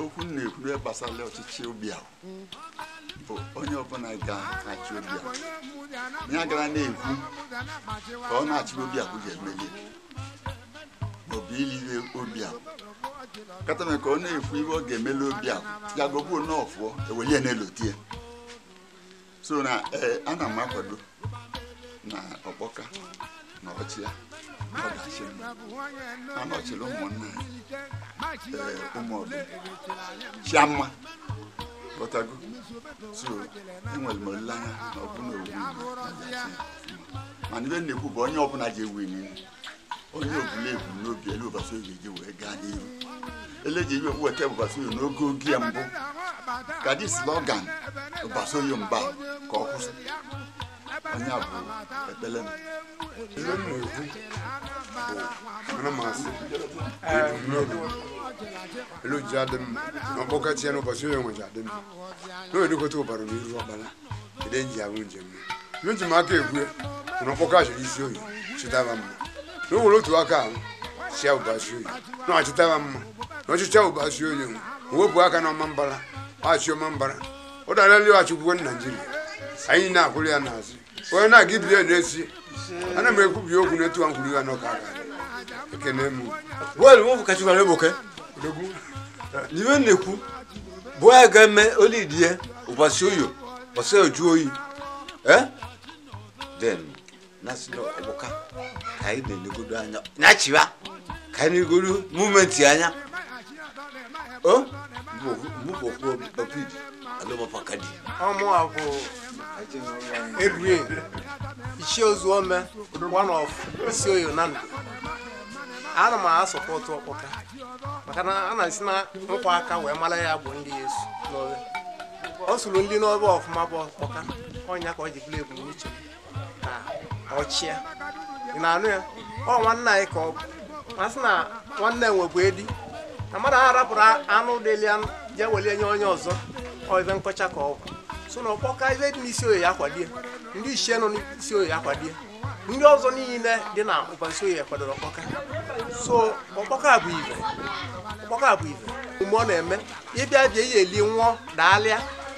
okwu m na-ekwu eh gbasara ọchịchị Obiawu bụ onye ọbụla ga-achị Obiawu ya gara na-ekwu ka ọ na-achị Obiawu ga-emeli maọbụ ili ihe Obiawu katame ka ọ na-ekwu ihe ọ ga-emeli Obiawu ya gọbuo n'ọfụọ ewelie na-elotie so na eh, ana m akwado na Ọkpọka na ọchịa ọ ga-achị a nọchiri ụmụnna ya eh, ụmụ ọdụ chiamma ghọtago so enwere m olileanya na ọ bụ na owu mana ife m na-ekwu bụ onye ọbụla ji ewu niile onye ọbụla ebu n'obi elu Ụbasioye ji wee gaa n'ihu ele ji iwe weta Ụbasioye n'oge oge ya mbụ ka dị slogan Ụbasioye mgba ka ọ kwụsị onye a bụ ekpele m ihe m na-ekwu bụ ana m asị ebumnobi elu ji adị mma na Ọkpọka chịa n'Ụbasioye nweji adị mma na onye dịkọta ụbara n'iru ọkpara ede nji arụ njem nji m aka ekwu na Ọkpọka chịrị Isioye chịta ya mma na o were otu aka ahụ chịa Ụbasioye na ọ chịta ya mma na ọ chịchaa Ụbasioye wepụ aka na Ọmambala achị Ọmambala ọ darali achịkwuo Naijiria anyị na-akwụrụ ya n'azụ onye na-aga ibiri ya na-esi ana m ekwubi okwu na etu a nkwuru ya n'ọka aga ekene m bọọlụ nwa bụ kachi gwara egboke odogwu n'ife m na-ekwu bụ anyị ga-eme olidie Ụbasioye ụbọchị oju oyi eh? then na-asị na Ọkpọka ka anyị na-elegodo anya na-achịwa ka anyị na-elegodo movement anya o mụbụ okwu obi alụmapaka dị ọ mụa bụ Edwin Ichie Ozuome one of Isioye Nando ana m asọpọtụ Ọkpọka maka na a na-esi na nkwa aka wee mara ya bụ ndị ya esu n'obe ọ sụrụ ndị n'obe ọfụma bụ Ọkpọka ọ ya ka ọ ji bụrụ ebumnuche m ọ chịa ị na-anụ ya ọ nwanne anyị ka ọ bụ masị na nwanne nwebụ edi na mmadụ ahụ rapụrụ anụ dịli ya je welie nye onye ọzọ ọ ife nkọcha ka ọ bụ so na Ọkpọka ife dị n'Isioye kwadie ndị ichie nọ n'Isioye kwadie ndị ọzọ niile dị na Ụbasioye kwadoro Ọkpọka so Ọkpọka bụ ife Ọkpọka bụ ife omume ọ na-eme ịbịa bịa ihe eli nwụọ daalụ